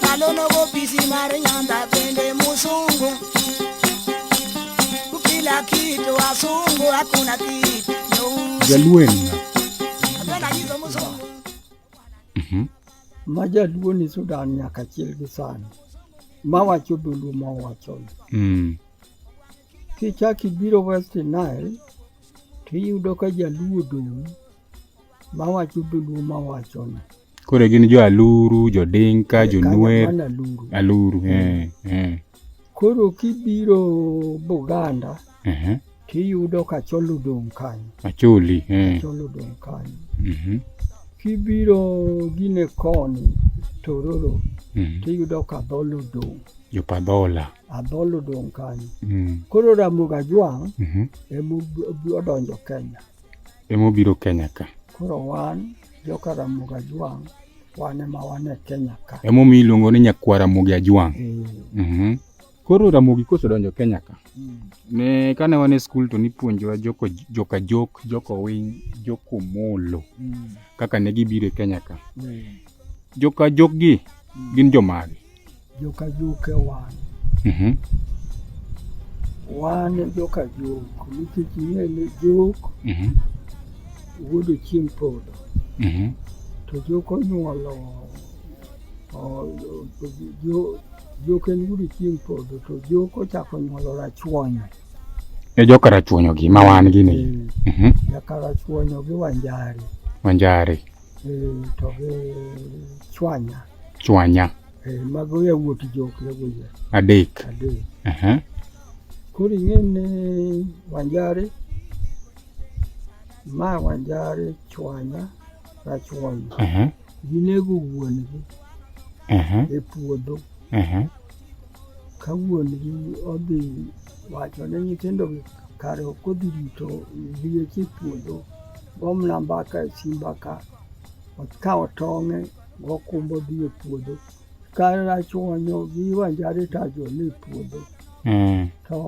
Kalono kopisi mari nyanda pende musungu Kila kitu wasungu hakuna kitu nyeusi. Jaluenna. Napenda hizo musungu Mhm. Majaluo ni Sudan nyaka achiel gi sani mawacho dholuo ma wachono. Mm. Kichak ibiro West Nile to iyudo ka jaluo dong' mawacho dholuo ma wachono. Koro gin jo Aluru, jo Dinka, jo Nwer, Aluru. Eh, eh. Koro kibiro Buganda tiyudo ka Achol odong' kanyo. Acholi. Eh. Achol odong' kanyo. Mhm. Kibiro gine koni Tororo mhm. tiyudo ka Adhol odong'. Jo Padhola. Adhol odong' kanyo. Mm. Koro Ramogi Ajwang' mhm. emodonjo Kenya. Emobiro Kenya ka. Koro wan Joka Ramogi Ajwang' wan ema wan e Kenya ka. Emomiyo iluongo ni Nyakwar Ramogi Ajwang'. Eh. Mhm. Koro Ramogi kosedonjo Kenya ka, Mm. ne kane wan e skul to nipuonjowa joko joka jok, joko winy, joko molo Mm. kaka ne gibiro e Kenya ka. Eh. Joka jokgi Mm. gin jomage? Joka Juke wan. Mm -hmm. Wan joka Juk nikech ing'e ni Juk mm -hmm. wuodo chieng' podho. Mm -hmm. To Juk onyuolo Juk en wuodo chieng' podho to Juk ochako onyuolo Rachuonyo. E joka Rachuonyo gi ma wan gi ni. Mm -hmm. Joka Rachuonyo gi Wanjari. Wanjari. chwanya chwanya mago yawuot jok yagoye adek adek koro ing'eni wanjari ma wanjari chwanya rachwanya ginego wuon gi e puodho ka wuongi odhi wacho ne nyithindogi kare ok odhi rito liech e puodho, gomna mbaka e simba ka, okawo tong'e gokumbo dhi e puodho. Ka achwonyo gi wanjare to ajole e puodho. Mm. To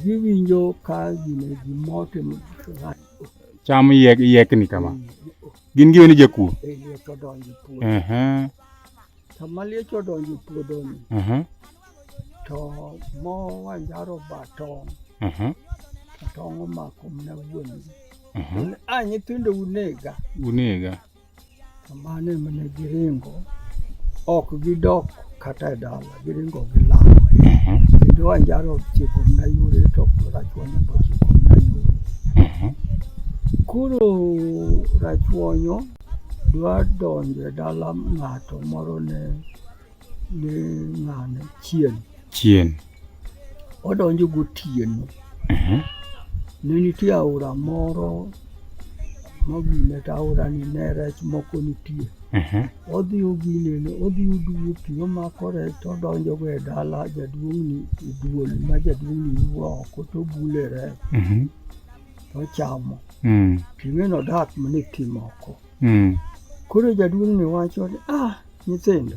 giwinjo ka gine gimote cham yiek, yiekni kama. Gin giweni jakuo. e puodho. Uh -huh. Sama liech odonjo e puodhoni, Mhm, to mowanjaro ba tong', mhm, to tong' omako mna wuon. mhm. A nyithindo unega, Unega. to mano ema ne giringo, ok gidok kata e dala, giringo gilal. Mhm, Kendo wanjaro ochiko mna yore, to rachuonyo be ochiko mna yore. mhm. Koro rachuonyo Dwa donjo e dala ng'ato moro ne ne ng'ane chien. Chien. Odonjo gotieno. Mhm. Ne nitie aora moro mogine to aora ni ne rech moko nitie. Mhm. Odhi oginene, odhi oduwo pi, omako rech to odonjogo e dala jaduong'ni e duol ma jaduong'ni wuo oko to obule rech. Mhm. ochamo mm. ring'eno odak mana e thim oko mm. koro jaduong'ni wacho ni ah nyithindo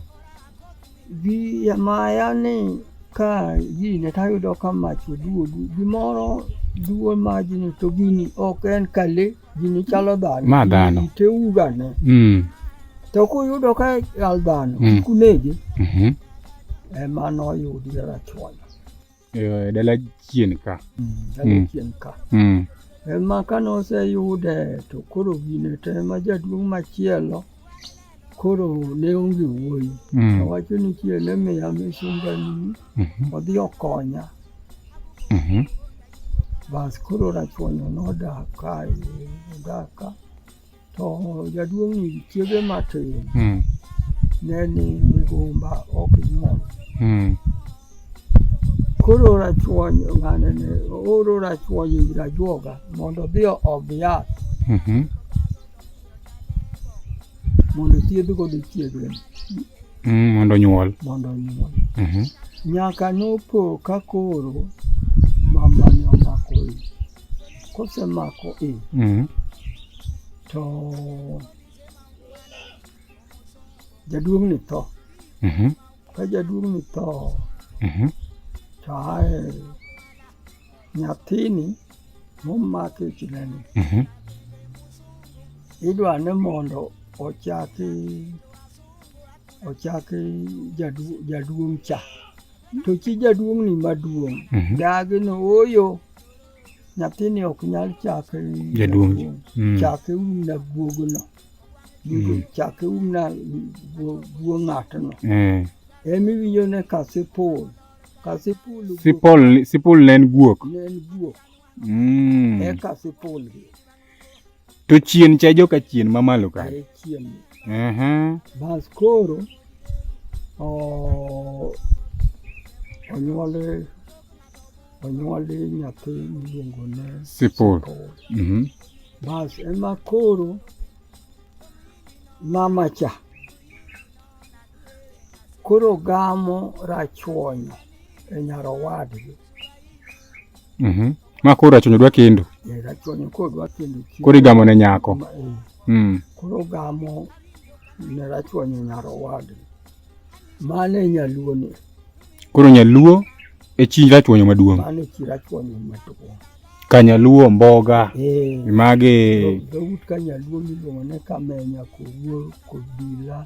gi maya ni ka gine tayudo ka mach oduogu gimoro duo majni to gini ok en kale gini chalo dhano ma dhano teugane mm. to kuyudo ka al dhano mm. kunege mm -hmm. ema noyudi rachwanya e dala chien ka dala Mm. chien ka mm. ema kane oseyude to koro gine to ema jaduong' machielo koro ne onge wuoyi Mm. owacho ni chiel emiya misumbani Mhm. odhi okonya Mhm. bas koro rachuonyo nodak kae odak ka To jaduong' ni chiege matin mm. ne ni migumba ok nyuol. Mm. Koro rachuony ng'ane ne oro rachuony ir ajuoga mondo odhi oom yath mm -hmm. mondo thiedh godo chiege. Mm, mondo nyuol. Mondo nyuol. Mm -hmm. Nyaka nopo ka koro mamane omako ich. kosemako i mm. to jaduong' ni tho mm -hmm. ka jaduong' ni tho mm -hmm. to ae nyathini momaki e chinani mm -hmm. idwa ni mondo ochaki ochaki jaduong' cha to chi jaduong' ni maduong' mm -hmm. dagi ni oyo mm -hmm. nyathini ok nyal chake jaduong mm. chake umna guogono mm. chake umna guo ng'atno eh. emiwinjo ne ka sipul ka sipul sipul sipul ne en guok ne en guok mm. eka sipul gi To chien cha joka chien mamalo ka. Eh, chien. Aha. Bas koro o onyuole onyuole nyathi miluongo ne Sipol. Mhm. Bas ema koro mama cha koro gamo rachuonyo e nyarowadgi Mhm. Ma koro achunyo dwa kendo. Eh, rachuonyo koro dwa kendo chi- Koro igamo ne nyako. Ma- eh, Mm. koro gamo ne rachuonyo nyarowadgi mano e nyaluo ni Koro nyaluo e chi rachuonyo maduong'. mano e chi rachuonyo maduong' Ka nyaluo mboga Eh, mage dhout ka nyaluo miluongo ne kamenya kowuor kobila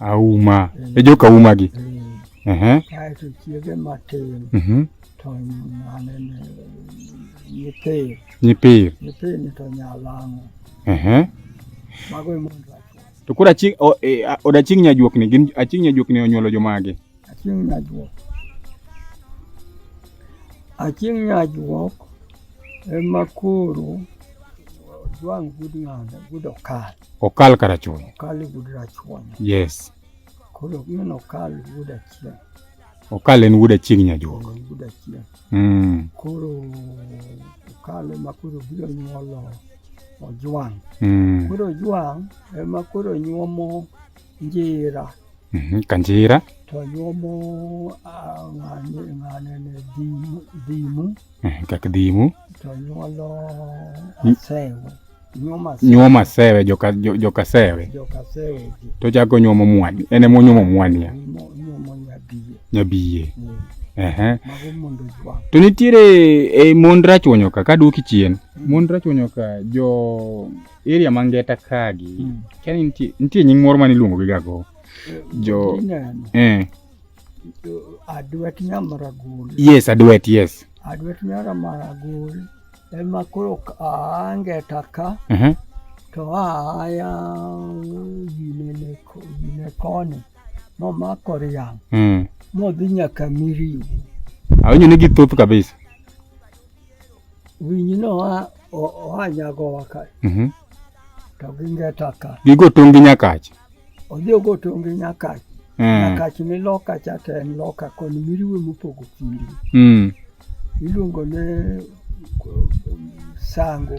auma mm. e joka uma gi ehe kaeto chiege matin mhm to mane nyipir nyipir nyipir ni to nyalango ehe mago e mondo to koro aching e, od aching nyajuok ni gin aching nyajuok ni onyuolo jomage aching nyajuok aching nyajuok ema koro jwang' gud ng'ada gud okal Okal Karachuonyo. Okal wuod Rachuonyo. Yes. Koro min Okal wuod Achieng'. Okal en wuod Achieng' Nyajuok. En wuod Achieng'. Mm. Koro Okal ema koro biro nyuolo Ojwang'. Mm. Koro Ojwang' ema koro nyuomo Njira. Mhm, kanjira twanyuomo ah, ng'ane ng'ane ne dhimu dhimu Mhm, kak dhimu twanyuolo Mm. asewe nyuomo asewe nyuomo asewe joka, jo- joka sewe joka sewe ji to chako nyuomo mwani en ema onyuomo mwania nyuomo nyuomo nyadiye nyabiye ni ehe mago mondo jwa to nitiere e mond rachwonyoka ka duoki chien mond rachwonyoka jo area ma ngeta kagi mm. kani nitie nitie nying moro mane iluongo gi gago jo eh adwet nyamragul yes adwet yes adwet nyamragul ema koro angeta ka uh mhm. -huh. to aya ginene gine koni momako riang mm. modhi nyaka miriu awinjo ni githoth kabisa Winyi no a oa nyago waka. Mhm. To ginge taka. Gigo tongi nyakachi. Odhi ogo tongi nyakachi. Mm. Nyakachi ni loka cha to en loka koni miriwe mopogo kindi. Mm. Iluongo ne sango.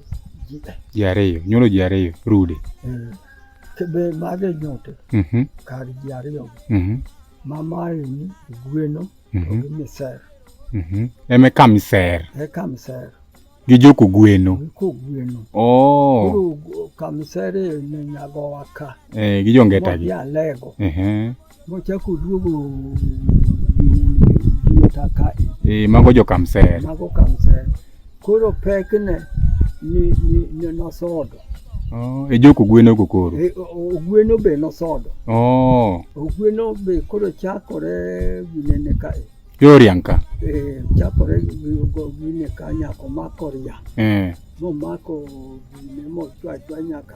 ji ariyo nyuolo ji ariyo rude eh, kebe mage nyote mhm. kar ji ariyo mhm. mamaeni gweno to mhm. gi miser eme ka miser e ka miser gi joko gweno ko gweno oh. kamiser ne nyagowa ka eh, gi jongeta gi alego Mochako duogo gieta kae. Eh, mago jo Kamsel. Mago Kamsel. Koro pek ne ni ni nosodo. Oh, e joko gweno go koro. E, ogweno be nosodo. Oh. Ogweno be koro chakore ginene kae. Yorianka. Eh, chakore gine ka nyako mako ria. Eh. Momako gine mochwa chwa nyaka.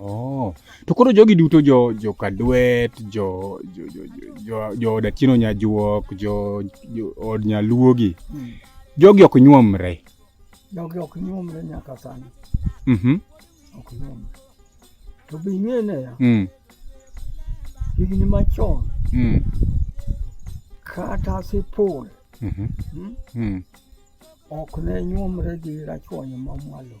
Oh. To koro jogi duto jo jo Kadwet, jo jo jo jo jo od Atieno Nyajuok, jo jo od Nyaluogi. Mm. Jogi ok nyuomre. Jogi ok nyuomre nyaka sani. Mhm. Mm ok nyuomre. To be ing'e ne ya. Mm. Higni machon. Mm. Kata sipul. Mhm. Mm mm. mm. Ok ne nyuomre gi rachuonyo mamwalo.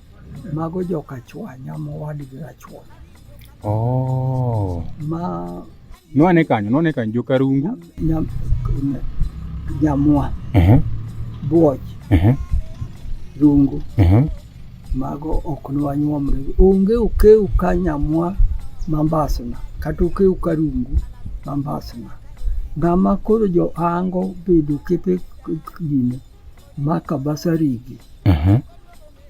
Mago joka chwanya mowadgi achwanya. Oh. Ma nwane kanyo nwane kanyo joka rungu nyam nyamwa. Uh -huh. Buoch. Uh -huh. Rungu. Uh -huh. Mago ok nwanyuomre. Onge okeu ka nyamwa mambasna kata okeu ka rungu mambasna. Ng'ama koro johango bedo kepe gine maka basarigi mhm.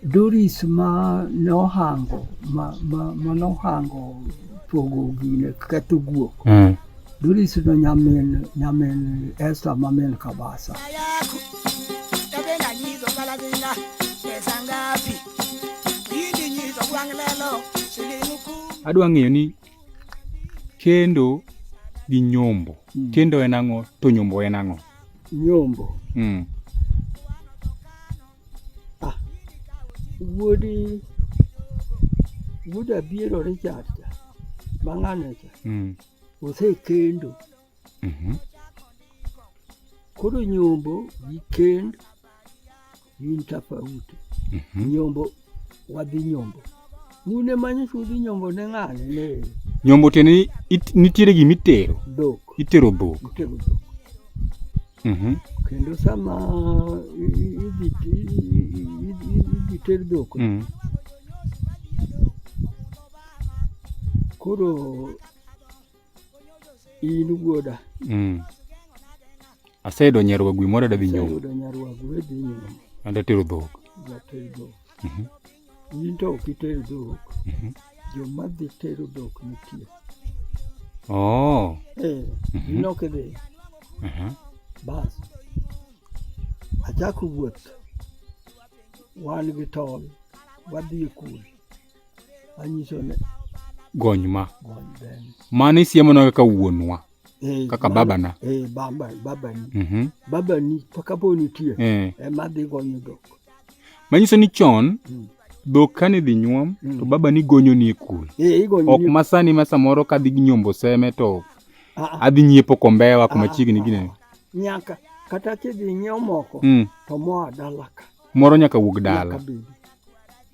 Doris ma nohango ma, ma, ma nohango pogo gine ketho guok mm. Doris no nyamin nyamin Esther ma min Kabasa adwa ng'eyo ni kendo gi nyombo mm. kendo en ang'o to nyombo en ang'o Nyombo. Mm. Ah. Wuodi wuod Abiero Richard cha mang'ano cha mm. osekendo mm -hmm. koro nyombo gi kend in tofauti. mm -hmm. Nyombo wadhi nyombo mune manyo chudhi nyombo ne ng'ane ne nyombo tiende ni it- nitiere gima itero dhok itero dhok itego dhok Mhm. kendo sama i- i- idhi i- i- i- i- idhi ter dhok Mm. koro in wuoda mm. aseyudo nyarwagu moro adhi nyuomo and atero dhok mhm. in to ok iter dhok mhm. joma dhi tero dhok nitie oh. eh, mhm. in ok idhi bas achako wuoth wan gi tol wadhi e kul Anyiso ne gony ma gony ben. mano isiemonwa kaka wuonwa Eh, Kaka mano- babana. Eh, baba, babani. Mhm. Babani to kapo nitie Eh. ema dhi gonyo dhok. manyiso ni chon Mm. dhok kane dhi nyuom Mm. to baba ni gonyo ni e kul Eh, igonyo ok ni- masani ma samoro kadhi nyombo seme to Ah, ah, adhi nyiepo kombewa kuma Ah, chiegni ah, gine nyaka kata kidhi nyiewo moko Mm. to moa dala ka moro nyaka wuog nyaka dala bedi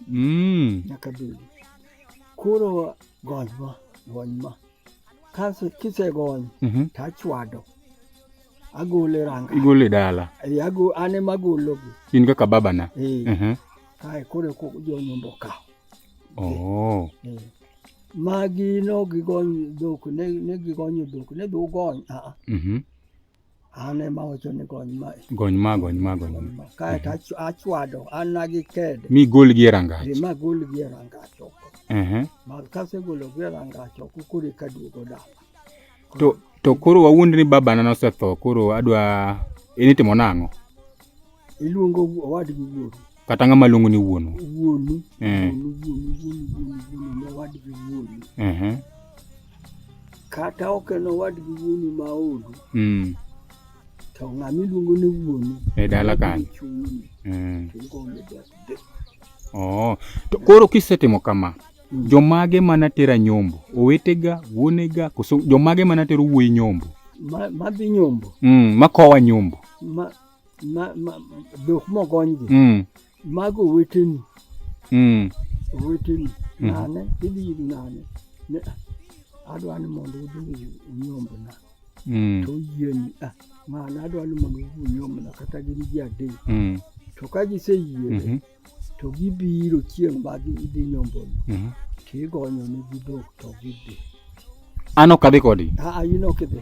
Mm. nyaka bedi. Koro gony ma, gony ma. Kase kisegony Mhm. to achwado. Agole ranga. Igole dala. Eh, ago ane magologi. In kaka babana. Eh, Mhm. kae koro ko jonyombo okawo. Oh. Eh. Magi no gigony dhok, ne ne gigonyo dhok, ne dhu gony. Ah, ah. Mhm. an ema awacho ni gony ma gony ma gony ma gony ma kae to mhm. achwado an na gi kede mi gol gi rangach ma gol gi rangach oko ehe ma kase golo gi rangach oko kuri ka duogo dala to to koro wawuond ni baba na nosetho koro adwa initimo nang'o iluongo owadgi wuonu kata ng'ama luongo ni wuonu wuonu eh. wuonu wuonu wuonu wuonu wuonu ne owadgi wuonu uh-huh. kata ok en owadgi wuonu ma odu mm. to ng'ama iluongo ni wuonu e dala kanyo mm. oh. to koro kisetimo kama mm. jomage mana tera nyombo owetega wuonega koso jomage mana tero wuoyi nyombo madhi nyombo mm, makowa nyombo ma, ma, ma, dhok mogonygi mm. mago oweteni mm. oweteni mm. nane idhi ir nane ne adwa ni mondo udhi unyombna mm. to oyieni ah, mane adwa ni mondo udhi unyombna kata gin ji adek mm. to ka giseyie mm -hmm. to gibiro chieng' ma gidhi nyomboni Mhm. to igonyonegi dhok to gidhi An ok adhi kodgi. Aa, in ok idhi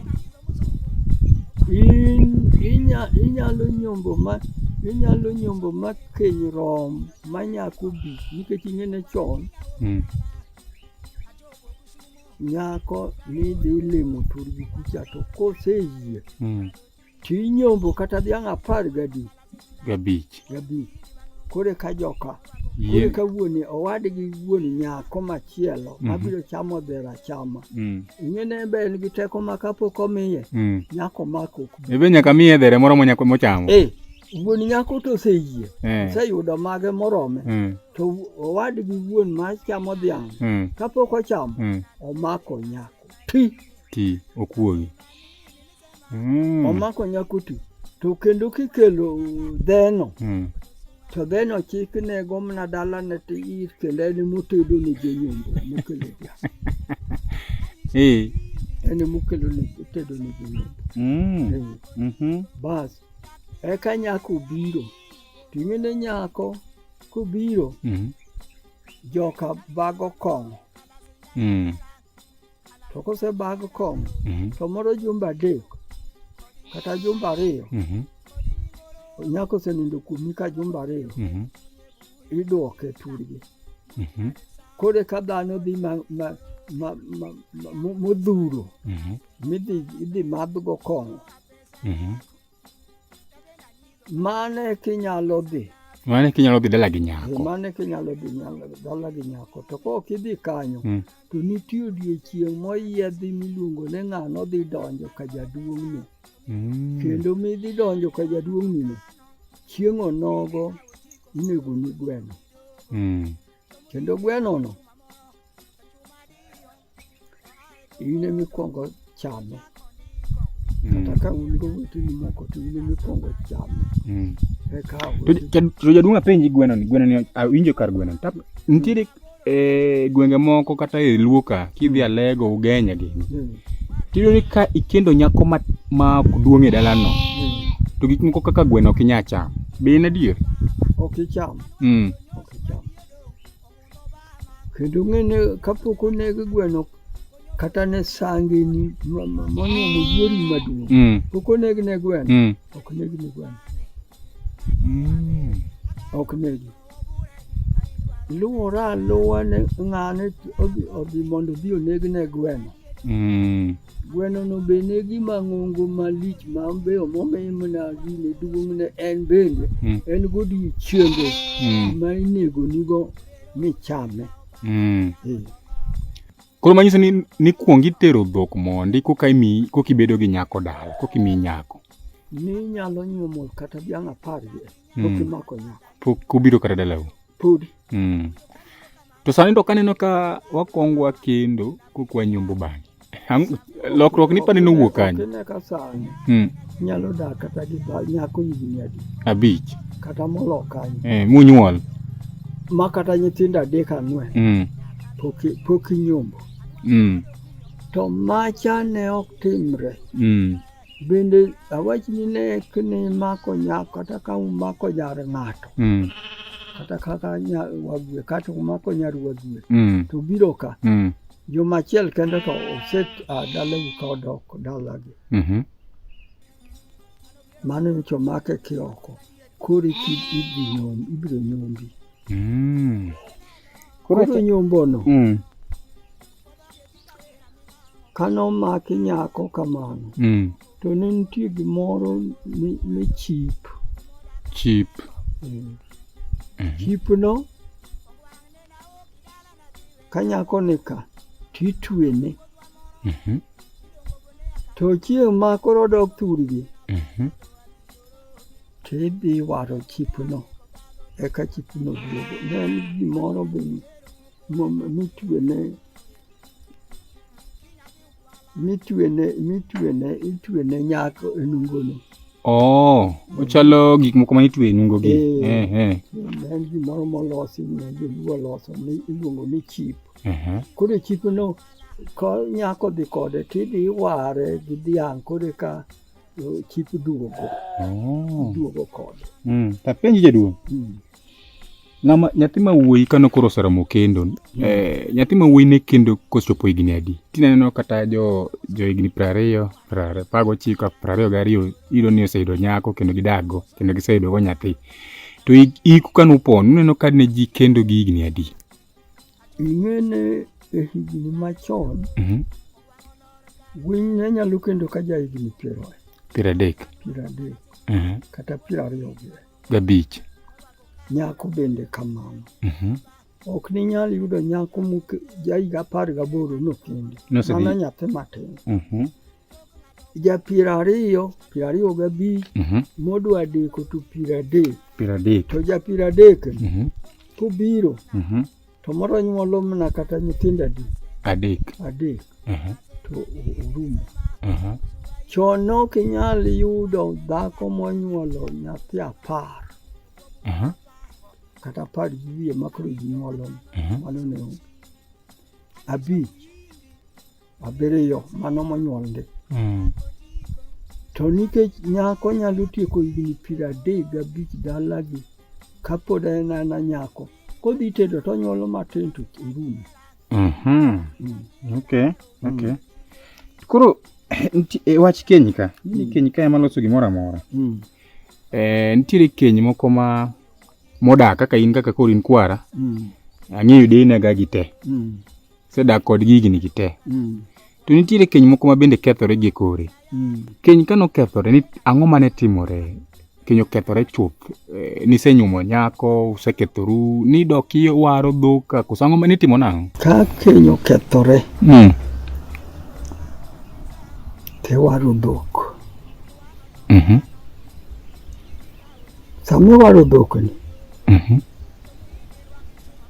in inya, inyalo nyombo ma inyalo nyombo ma keny rom ma nyako bi nikech ing'ene chon Mm. nyako nidhi limo turgi kucha to koseyie Mm. Tinyombo kata dhiang' apar gadi. Gabich. Gabich. Kore ka joka. Kore ka wuoni owadgi wuon nyako machielo mm -hmm. mabiro chamo dhera chama. Mm. Ing'ene ebe en gi teko ma kapok omiye. Mm. Nyako mako. Ebe nyaka miye dhere moro monyako mochamo. Eh. wuon nyako to oseyie eh. oseyudo mage morome eh. to owadgi wuon ma chamo dhiang' eh. kapok ochamo omako nyako ti ti okuogi mm. omako nyakuti to kendo kikelo dheno mm. to dheno chik nego mana dalane to ir kendo en motedo ne jonyombo mokelo dhiang' eh. en mokelo tedo ne jonyombo mm. eh. mhm. bas eka nyako obiro to ing'ene nyako kobiro mm. joka bago kong'o mm. to kosebag kom mhm. to moro jumba adek kata jumba ariyo mhm. nyako osenindo kuomi ka jumba ariyo mhm. idwoke turgi kore ka dhano dhi modhuro midhi idhi madhgo kong'o Mane kinyalo dhi. Mane kinyalo dhi dala gi nyako. Mane kinyalo dhi dala gi nyako. To ka ok idhi kanyo, mm. to nitie odiechieng' moyiedhi miluongo ni ng'ano dhi donjo ka jaduong'ni. Mm. Kendo midhi donjo ka jaduong'ni no, chieng' onogo inego ni gweno. Mm. Kendo gwenono in emikwongo chame kata ka un goweteni moko to in emikwongo chame mm. eka to jaduong' apenji gweno ni gweno ni awinjo kar gweno tap nitiere e gwenge moko kata e luo ka kidhi mm. alego ugenya gi mm. tiyudo ni ka ikendo nyako ma ma ok duong' e dalano to gik moko kaka gweno ok inyal cham be en adier ok icham mm. Kendo ng'ene kapok oneg gweno kata ne sangeni monyuomo yuori maduong' mm. pok oneg ne gweno mm. ok neg ne gweno mm. ok negi luwore aluwa ne ng'ane odhi mondo odhi oneg ne gweno Mm. Gweno no be ne gima ng'ongo malich ma be omomimo na gine duong' ne en bende mm. en godiechienge mm. ma inego nigo michame. Mm. Eh. Koro manyiso ni nikwong itero dhok mondi koka imi koka ibedo gi nyako dala koka imi nyako. Ni nyalo nyuomo kata dhiang' apar gi mm. pok imako nyako. Pok obiro kata dalau. Podi. Mm. To sani to kaneno ka wakwong wakendo kokwa nyombo bang'e. Ang- Lokruok ni pane nowuok kanye? Kine ka sani Hmm. nyalo dak kata gi ba- nyako higni adi Abich. kata molo kanyo Eh, munyuol. ma kata nyithindo adek ang'wen Hmm. pok i- pok inyombo Hmm. to macha ne ok timre Hmm. Bende awach ni nek ni mako nyako kata ka umako jar ng'ato mm. kata kaka wagwe kata umako nyar wagwe mm. to biro ka mm. juma achiel kende to oset ah, dalau ka odok dalagi mm -hmm. mano nyocha omake kioko koro ibiro nyombi mm. koro nyombono mm. kane omaki nyako kamano mm. to ne nitie gimoro ne chip chip mm. mm. chipno ka nyako ni ka titwene mm -hmm. to chieng' ma koro dok thurgi mm -hmm. tidhi waro chipno eka chipno duogo ne en gimoro be mitwene mitwene mitwene itwene nyako e nungono oh ochalo gik moko mane itwe e nungogi eh, eh, eh. en gimoro molosi ne joluo oloso iluongo ni chip koro e chipno ko nyako dhi kode tidhi iware gi dhiang' koro ka Yo, chik duogo go, Oh. duogo kod. Mm. Tapenji jaduong'. Mm. Ng'ama nyathi ma wuoyi kano koro oseromo kendo. Eh, nyathi ma wuoyi ne kendo kochopo higni adi? Tineno kata jo jo higni piero ariyo, piero ariyo, apar gochiko, piero ariyo gariyo iyudo ni oseyudo nyako kendo gidago kendo giseyudo go nyathi. To hik- hiku kano upon uneno ka ne ji kendo gi higni adi? ing'ene e higni machon mm -hmm. winy ne nyalo kendo ka ja higni piero piero adek piero adek mm -hmm. kata piero ariyo gabich nyako bende kamano mm -hmm. ok ni nyal yudo nyako ja higa apar gaboro nokende mana nyathi matin mm -hmm. ja piero ariyo piero ariyo gabich mhm. modwa deko to piero adek piero adek to ja piero adek mhm. kobiro mhm. to moro nyuolo mana kata nyithindo adek adek adek to orumo chon ne ok inyal yudo dhako monyuolo nyathi apar kata apar gi wiye makoro ginyuolo mano ne abich abiriyo mano monyuolgi mm. to nikech nyako nyalo tieko higni piero adek gabich dalagi kapod en ana nyako kodhi tedo to onyuolo matin to orumo mhm. mm. koro e wach keny ka mm. keny ka ema loso gimoro amora mm. eh, nitiere keny moko ma modak kaka in kaka koro in kwara mm. ang'eyo dinaga gi te mm. sedak kod gigni gi te mm. to nitiere keny moko ma bende kethore gi kore mm. keny ka nokethore ni ang'o mane timore keny okethore chuth eh, nisenyumo nyako usekethoru ni dok iwaro dhok koso ang'o mane itimo nang'o ka keny okethore mm. tiwaro dhok mm -hmm. Sama waro dhok ni. Mhm.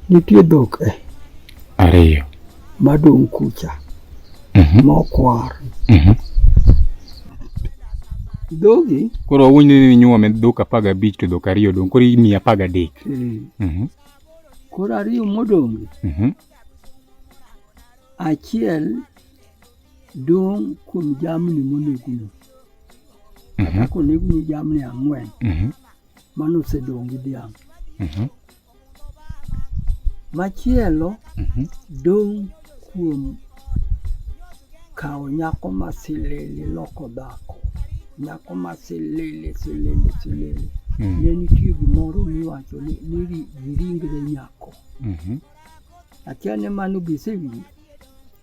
Nitie dhok e. Ariyo. Madong' kucha. Mhm. Mokwar. Mhm. Dhogi. Koro wawuoy ni ninyuome dhok apar gabich to dhok ariyo dong' koro imiyi apar gadek. Eh. Mhm. Koro ariyo modong'. Mhm. Achiel Dong' kuom jamni monegno, kata Mhm, konegni jamni ang'wen mhm, mano osedong' gi dhiang'. mhm, Machielo mhm. dong' kuom kawo nyako ma silili loko dhako, nyako ma silili silili silili. Mm, Ne nitie gimoro miwacho ni ni ri- giringre nyako. mhm. Akia ni mano gisewinjo.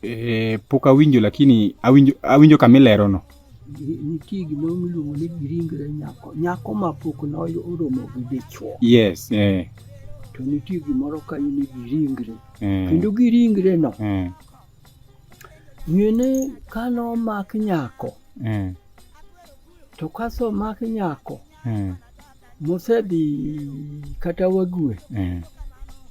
Eh, pok awinjo lakini awinjo, awinjo kama ilerono. Nitie gima iluongo ni giringre nyako, nyako ma pok noromo gi dichwo. Yes, eh. To nitie gimoro kanyo ni giringre. Eh. Kendo giringre no. Eh. Ng'ene ka nomak nyako. Eh. To kaso mak nyako. Eh. mosedhi kata wague mm.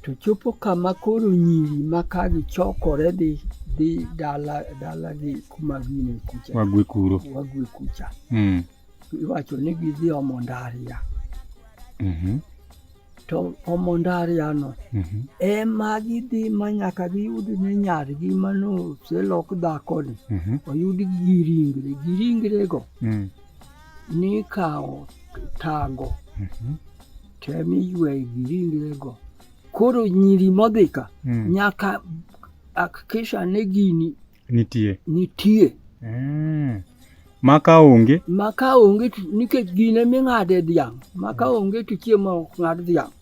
to chopo kama koro nyiri ma ka gichokore dhi dhi dala dalagi kuma gine kucha wague kuro wague kucha mm. iwacho ni gidhi omo ndaria mm -hmm. to omo ndariano mm -hmm. ema gidhi ma nyaka giyud ne nyargi manoselok dhakoni mm -hmm. oyud giringre giringrego mm. nikawo tago mhm. tem iyweyo gi ringrego koro nyiri modhi ka mm. nyaka akikisha ni gini nitie nitie mm. maka onge maka onge nikech gine ming'ade dhiang' maka onge to chiemo ok ng'ad dhiang'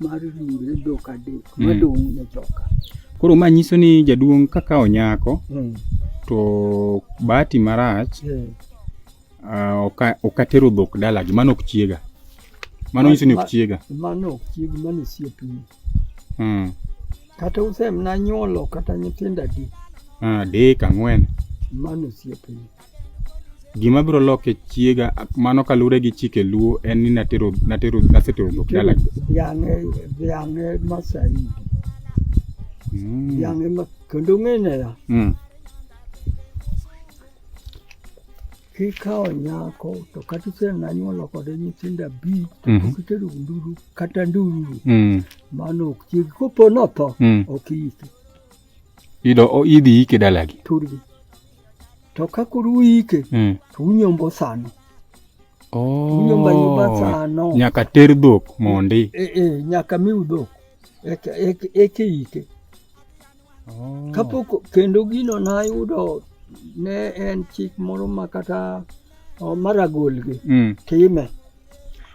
mar ringre dhok adek mm. madong' ne joka. Koro ma nyiso ni jaduong' kaka onyako mm. to bahati marach mm. uh, okatero oka dhok dalagi mano ok chiega mano nyiso ni ok chiega mano ok chiegi mano osiepni mm. kata usemna nyuolo kata nyithindo adi ah, adek ang'wen mano osiepni gima biro loke chiega mano kalure gi chike luo en ni natero natero nasetero dhok dala yange yange masai mm. yange ma kendo ngene ya mm. kikawo nyako to kata isenanyuolo kode nyithindo abich to mm -hmm. kitero nduru kata nduru mm. mano ok chiegi kopo notho mm. ok iyike idhi yike dalagi turgi to ka koro uyike mm. to unyombo sano oh, unyombo anyomba sano nyaka ter dhok mondi e, e, nyaka miu dhok eke, eke, eke ike oh. kapok kendo gino nayudo ne en chik moro ma kata Omara oh, golgi. Mm. Time.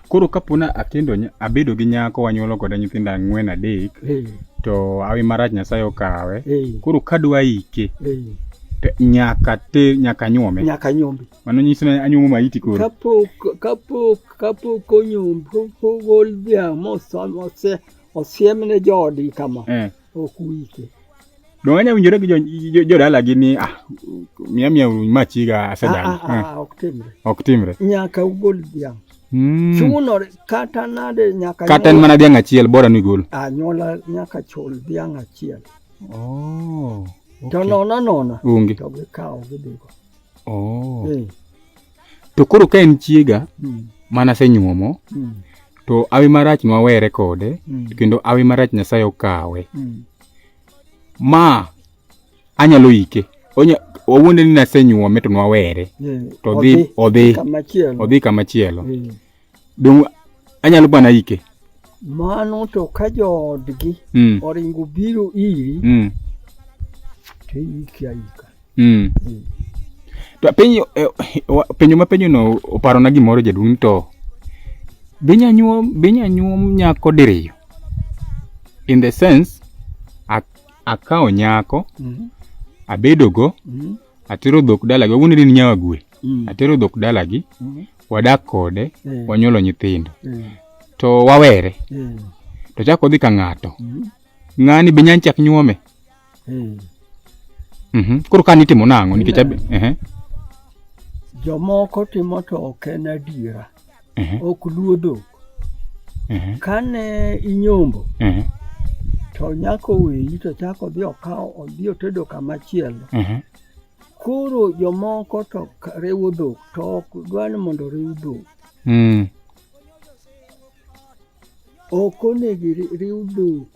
Koro kapona akendo abedo gi nyako wanyuolo kode nyithindo ang'wen adek. Hey. To awi marach Nyasaye okawe. Hey. Koro kadwa ike. Hey. nyaka te nyaka nyuome nyaka nyuombe mano nyiso ni anyuomo maiti koro kapok kapok kapok onyuombe pok ogol dhiang' mose osiemne joodi kama eh. ok uike. Donge anya winjore gi jodalagi jo, jo ni ah, miya miya machiga asedagi. Ah, ah, ah, ah, ok timre. Ok timre. Nyaka ugol dhiang'. Mm. Chunore kata nade nyaka kata en mana dhiang' achiel bora ni gol. Anyuola nyaka chul dhiang' achiel. Oh. Okay. To nona nona. Ungi. To gikawo gidhigo. Oh. Eh. to koro ka en chiega mm. mana senyuomo mm. to awi marach nwawere kode mm. kendo awi marach nyasaye okawe mm. ma anyalo ike onya owuonde ni nasenyuome to nwawere yeah. to odhi odhi kamachielo yeah. Donge anyalo bana ike? Mano to ka joodgi mm. oringo biro iri mm. to iiki aika. Mm. Mm. To penyo eh, penyo ma penyo no oparo na gimoro jaduong' to binya nyuom binya nyuom nyako diriyo in the sense akawo nyako mm -hmm. abedogo mm -hmm. atero dhok dalagi wawuondo ni nyawa gwe mm. atero dhok dalagi mm. wadak kode eh. wanyuolo nyithindo eh. to wawere eh. to chako odhi ka ng'ato mm. ng'ani be nyany chak nyuome mm. mm -hmm. koro ka nitimo nang'o nikech eh. jomoko timo to ok en adiera Mhm. ok luo dhok Mhm. kane inyombo Mhm. to nyako weyi to chako odhi okawo odhi otedo kama chielo Mhm. koro jomoko to ka- riwo dhok to ok dwa ni mondo riw dhok Mm. ok onego iri- riw dhok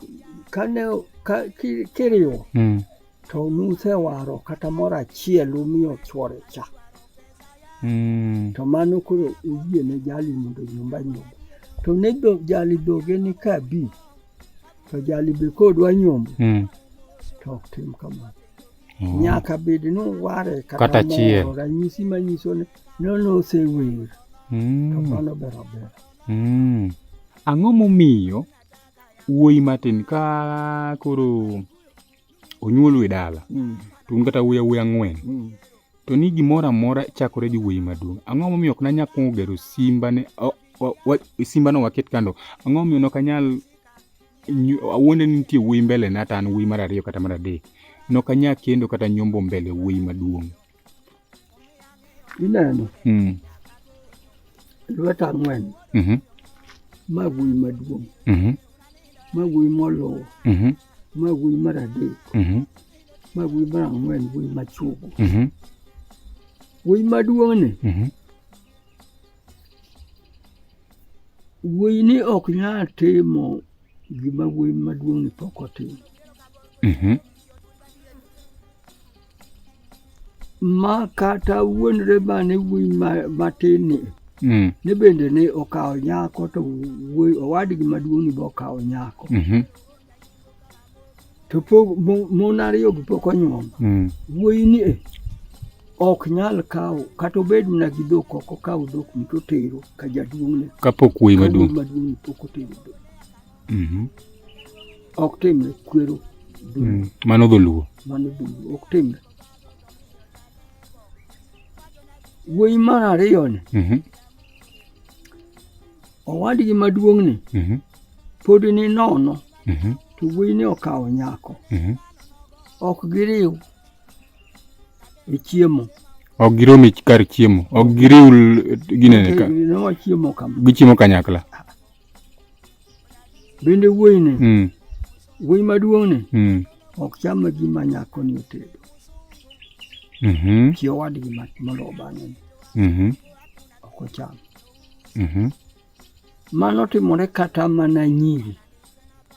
kane ka- ki- kiriwo Mm. To nusewaro kata moro achiel umiyo chwore cha. Mm. To mano koro uyie ne jali mondo nyumba nyumba. To ne do, jali dhoge ni ka bi. To jali be kodwa nyombo. Mm. To ok tim kamano. Mm. Nyaka bed ni uware kata, kata chiel. Moro, ranyisi manyiso ni nono osewer. Mm. To mano ber aber. Mm. Ang'o momiyo wuoyi matin ka koro onyuolu e dala mm. to un kata wuya wuya ang'wen mm. to ni gimoro amora chakore gi wuoyi maduong' ang'o momiyo ok nanyal kuongo gero simbane simbano waket kando ang'o momiyo nok anyal awuonde ni nitie wuoyi mbele na to an wuoyi mar ariyo kata mar adek nok anyal kendo kata nyombo mbele wuoyi maduong' Ineno? Mm. Lwet ang'wen. Mm -hmm. Ma wuoyi maduong'. Mm -hmm. Ma wuoyi moluwo. Mm -hmm. Ma wuoyi mar adek. Mm -hmm. Ma wuoyi mar ang'wen wuoyi machuogo. Mm -hmm. Wuoyi maduong'ni. Mm -hmm. Wuoyi ni ok nyal timo gima wuoyi maduong'ni pok otimo. Mm -hmm. ma kata wuon reba ne wuoyi matin ni mm. ne bende ne okawo nyako to wuoyi owadgi maduong' ni be okawo nyako mm -hmm. to pok mon ariyo gi pok onyuom mm. wuoyi ni e ok nyal kawo kata obed mana gi dhok ok okaw dhok mito tero ka jaduong'ne kapok wuoyi maduong' pok otero dhok mm -hmm. ok timre kwero mm. mano dholuo mano dholuo ok timre wuoyi mar ariyo ni mm -hmm. owadgi maduong' ni mm -hmm. pod ni nono mm -hmm. to wuoyi ni okawo nyako mm -hmm. ok giriw e chiemo ok girom e kar chiemo ok giriw ginene ka gichiemo kanyakla Bende wuoyi ni mm. wuoyi maduong' ni mm. ok cham gima nyako ni otedo mm -hmm. chi owadgi mondo obang'e mm -hmm. ok ocham mm -hmm. mano timore kata mana nyiri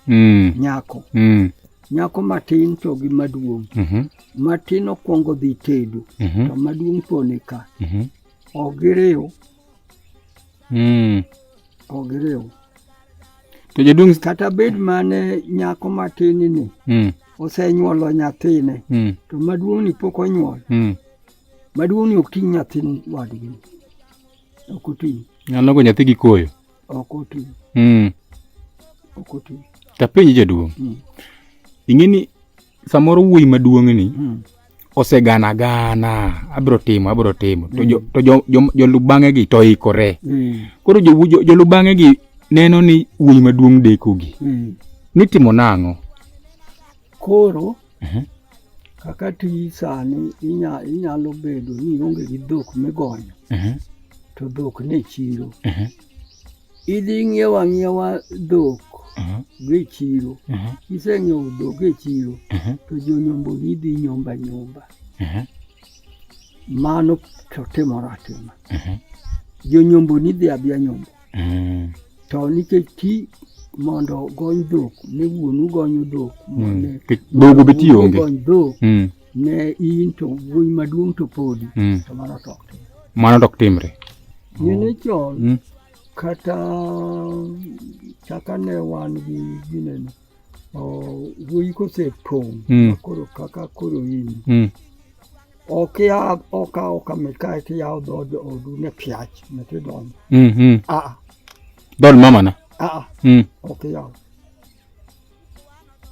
mm. nyako mm. nyako matin to gi maduong' mm -hmm. matin okwongo dhi tedo mm -hmm. to maduong' pone ka mm -hmm. ok giriw Mm. Ogiriw. To jaduong' kata bed mane nyako matin ni mm. osenyuolo nyathine mm. to maduong' ni pok onyuol mm. maduong' ni ok ting' nyathini wadgi ok oting' nyalo go nyathi gi koyo ok oting' mm. ok oting' tapenji jaduong' mm. ing'e ni samoro wuoyi maduong'ni mm. osegana gana abiro timo abiro timo to jo, to jo, jo, jolubang'e gi to ikore mm. koro jolubang'e jo, jo gi neno ni wuoyi maduong' deko gi mm. ni timo nang'o koro uh -huh. kaka ti sani inya, inyalo bedo ni onge gi dhok migonyo uh -huh. to dhok ne chiro uh -huh. Idhi ng'iewo ang'iewa dhok mhm. gi e chiro, mhm. kiseng'iewo dhok e chiro mhm. to jonyomboni dhi nyomba nyomba. Mano to timore atima. Jonyomboni dhi adhiya nyombo. To nikech ti mondo ogony dhok ne wuonu gonyo dhok. Dhogo be ti onge. Dhok. Ne in to wuoyi maduong' to podi mm. to mano to ok timre. Mano to ok timre. Nene chon mm. kata chaka ne wan gi ginene wuoyi kosepong' mm. koro kaka koro in mm. ok ya ok ok mit ka ti ya do do du ne piach ne ti don mm mm a dol mama na a a mm ok ya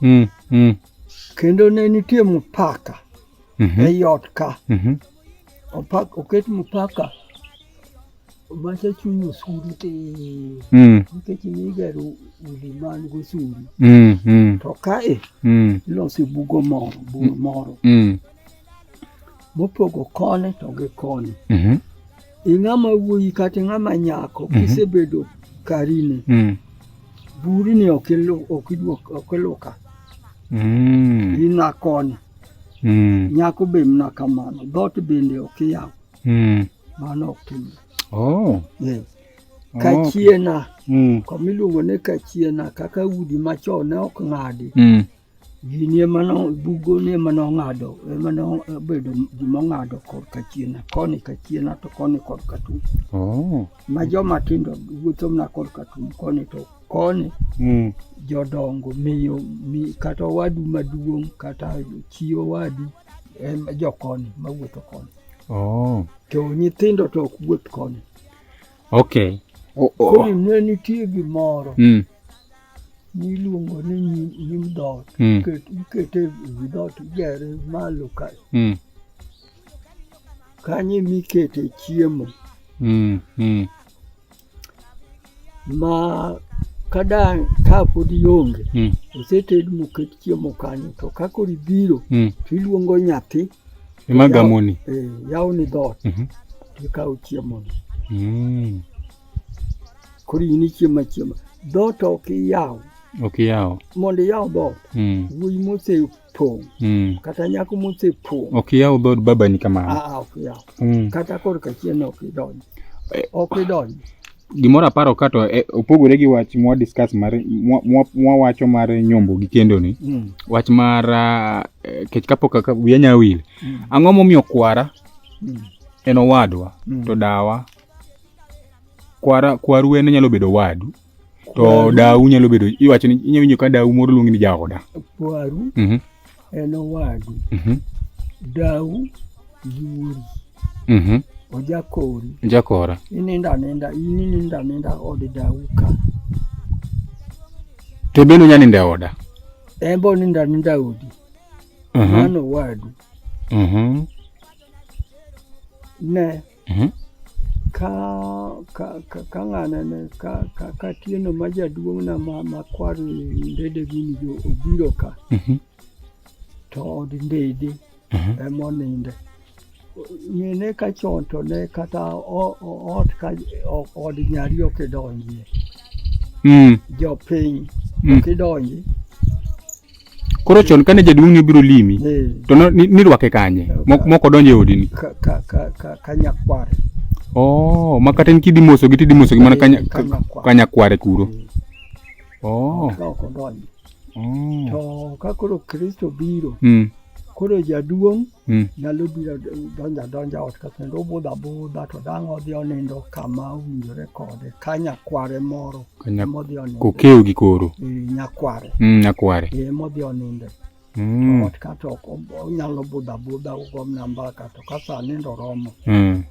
mm, mm. kendo ne nitie mupaka mm -hmm. ei ot ka mm -hmm. Opak, oket mupaka mase chung' osuru ti mm. nikech nigero udi man gosuru mm, mm. to kae mm. iloso bugo moro bugo mm. moro mm. mopogo koni to gi koni mm -hmm. Ing'ama wuoyi kata ing'ama nyako mhm. kisebedo karini mm. buri ni ok iluoka mm. ina koni mm. nyako be mna kamano dhoot bende ok iyaw mm. mano ok timre oh. yes. Oh, kachiena mm. komiluongo ni kachiena kaka udi machon ne ok ng'adi mm. Gini ema no bugo ni ema no ng'ado ema no bedo gima ng'ado kor kachien koni kachien to koni kor katum. Oh. Ma joma tindo wuotho na kor katum koni to koni mm. jodongo miyo mi, kata wadu maduong' kata chio wadu em jokoni ma wuotho koni. Oh. To nyithindo to ok wuoth koni. Okay. Oh, oh. Koni ne nitie gimoro. Mm. niluongo ni nyim, nyim dhoot Mm. Ket- ikete ewi dhoot igere malo ka Mm. kanyo emikete chiemo Mm. Mm. ma kada ka pod ionge Mm. oseted moket chiemo kanyo to ka koro ibiro Mm. to iluongo nyathi Ema gamoni. eh, yawni dhoot Mhm. tikawo chiemoni Mm. koro in ichiemo achiema dhoot ok iyaw ok iyaw mondo iyaw dhoot mm. wuoyi mosepong' mm. kata nyako mosepong' ok iyaw dhoot babani kamano ah, ah, ok iyaw mm. kata kor kachien ok idonj eh, ok idonj gimoro aparo ka to eh, opogore gi wach mwa discuss mar mwa wacho mar nyombo gi kendo ni mm. wach mar ah, eh, kech kapok ka wiya nyawil mm. ang'o momiyo kwara mm. en owadwa mm. to dawa kwara kwaru en nyalo bedo wadu to dau nyalo bedo iwacho ni inyalo winjo ka dau moro luongi ni jaoda kwaru mm -hmm. en owadu mm -hmm. dau yuori mm -hmm. ojakori ojakora ininda aninda ininda aninda od dau ka to bende unya ninda e oda en bo ninda aninda odi mano owadu ne Mhm. ka ka ka ka ng'ana ne ka ka ka tieno ma jaduong'na ma ma kwar ndede gini jo obiro ka Mhm. to od ndede Mhm. ema oninde ng'ene ka chon to ne kata o- o- ot ka o- od nyari ok idonjie Mm. jopiny Mm. ok idonji Koro chon kane jaduong' ni obiro limi Eh, to no- ni- nirwake kanye? Mo- Moko donjo e odini. ka- ka- ka- ka- ka nyakwar Oh, ma kata in kidhi mosogi tidhi mosogi mana kanya- Eh, kanyakwar. kanyakware kuro. Oh, ka ok odonjo oh. to ka koro kristo biro Mm. koro jaduong' Mm. Nyalo biro donjo adonja ot ka kendo obudho abudha to dang' odhi onindo kama owinjore kode ka nyakware moro Kanya- modhi onindo. Kokew gi koro. Eh, Nyakware. Mm, nyakware. Eh, modhi onindo. Mm. Ot ka to ok ob- onyalo budho abudha ugom namba ka to ka sa nindo romo. Mm.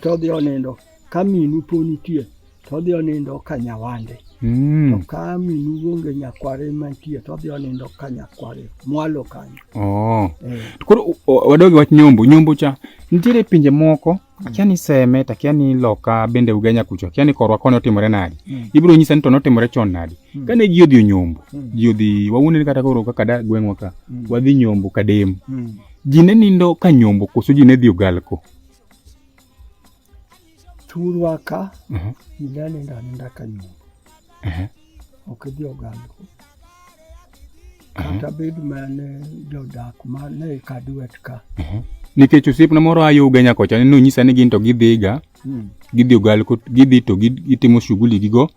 to odhi onindo ka minu po nitie to odhi onindo ka nyawande mm. to ka minu onge nyakware mantie to odhi onindo ka nyakware mwalo kanyo oh. eh. koro wadogi wach nyombo nyombo cha nitiere pinje moko mm. akia ni seme to akia ni loka bende ugenya kucho akia ni korwa koni otimore nadi mm. ibiro nyisa ni to notimore chon nadi mm. kane ji odhi onyombo mm. ji odhi wawuoneni kata koro kaka da gweng'wa ka mm. wadhi nyombo kadem mm. ji ne nindo ka nyombo koso ji ne dhi ogalko turwaka inani ndanenda kanyuma okidhi oganduku kata bed mane jodak mane kadwet ka nikech osiepna moro ayo Ugenya kocha ne nonyisa ni gin to gidhiga hmm. gidhi ogal gidhi to gitimo shughuli gigo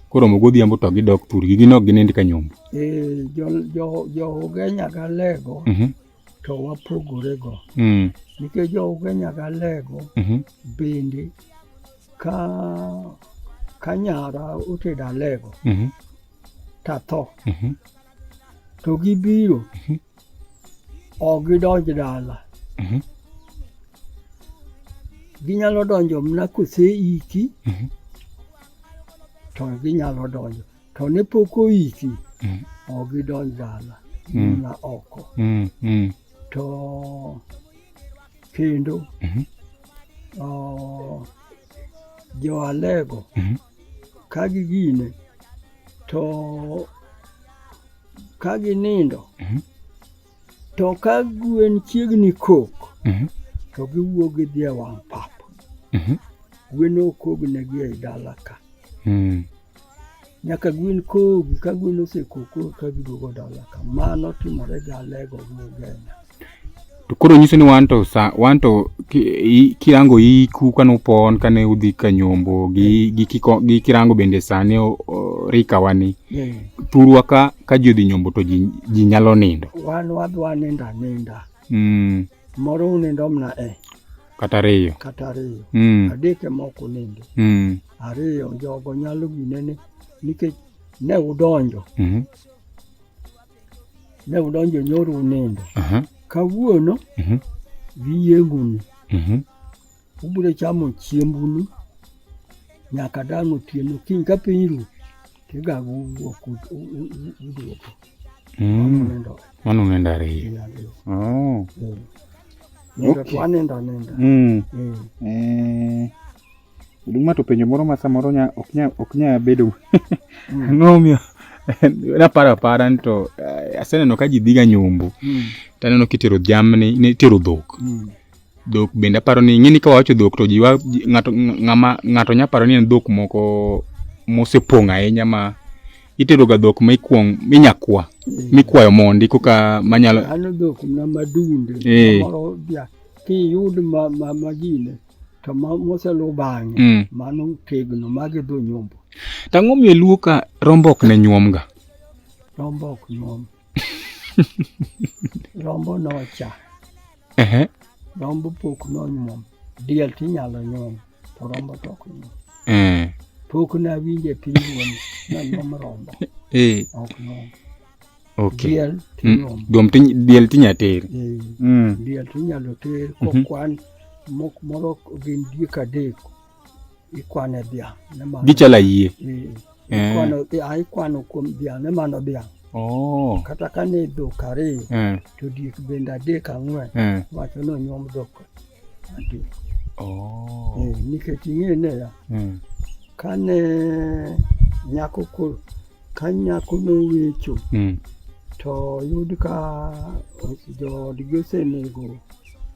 koromo godhiambo to gidok thurgi gin ok ginind ka nyombo. Eh, jo, jo, jo Ugenya galego mm -hmm. to wapogorego mm. nikech joge nyaka lego mm -hmm. bende ka ka nyara otedo alego mm -hmm. tatho mm -hmm. to gibiro mm -hmm. ok gidonj dala mm -hmm. ginyalo donjo mna kose iki mm -hmm. to ginyalo donjo to ne pok oiki mm. ok gidonj dala mm. na oko mm. Mm. to kendo mm -hmm. uh, joalego mm -hmm. ka gigine to ka ginindo mm -hmm. To ka gwen chiegni kok, mhm. to giwuok gidhi e wang' pap. Mhm. Gwen okognegi ei dala ka. Mm. Nyaka gwen kogi, ka gwen osekoko ka giduogo dala ka. Mano timore gi alego gi ogenya. To koro nyiso ni wan to sa wan to kirango iku kane upon kane udhi ka nyombo gi gi kiko gi kirango bende sani rika wani. Yeah. thurwa ka ka ji odhi nyombo to ji nyalo nindo wan wadwa nindo aninda mm. moro unindo mna e kata ariyo kata ariyo mm. adek ema ok unindo mm. ariyo jogo nyalo ginene nikech ne udonjo mm -hmm. ne udonjo nyoro unindo uh -huh. kawuono uh mhm. -huh. giyienguni uh mhm. -huh. Ubiro chamo chiembunu nyaka dang' otieno kiny ka piny ru tigago wuok uduogo mano unendo ariyo nindo to anindo aninda Oduma to penjo moro ma samoro ok nya bedo mm. ang'omiyo naparo apara ni to eh, aseneno ka ji dhiga nyombo mm. taneno kitero jamni nitero dhok mm. dhok bende aparo ni ing'eni ka wawacho dhok to ji wa ji- ng'ato ng'ama ng'ato nya paro ni en dhok moko mosepong' ahinya ma itedoga dhok ma ikwong minya kwa mikwayo mondi koka manyalo Ano dhok na madunde Eh. moro bia kiyud ma ma magine to ma moselu bang'e Mm. mano tegno magi dho nyombo tang'o miyo luo ka rombo ok ne nyuomga rombo ok nyuom rombo nocha Ehe. Rombo pok nonyuom. Diel tinyalo nyuom, to rombo to ok nyuom. Mm. Pok nawinjo e piny wuon nanyuom rombo. Eh. Ok nyuom. Okay. Diel Mm. tinyuom. Dom tin diel tinya ter. Eh, Mm. Diel tinyalo ter Mhm. kokwan mok moro gin diek adek ikwane dhiang' ne mano. Gichalo ayie. Eh, Eh. Ikwano dhiang', ah, ikwano kuom dhiang' ne mano dhiang'. Oh. Kata ka ne dhok ariyo, Eh. to diek bende adek ang'wen, Eh. wacho ni onyuom dhok adek. Oh. Eh, Nikech ing'e niya, Eh. ka ne nyako koro, ka nyako nowecho, Mm. to yud ka joodgi osenego,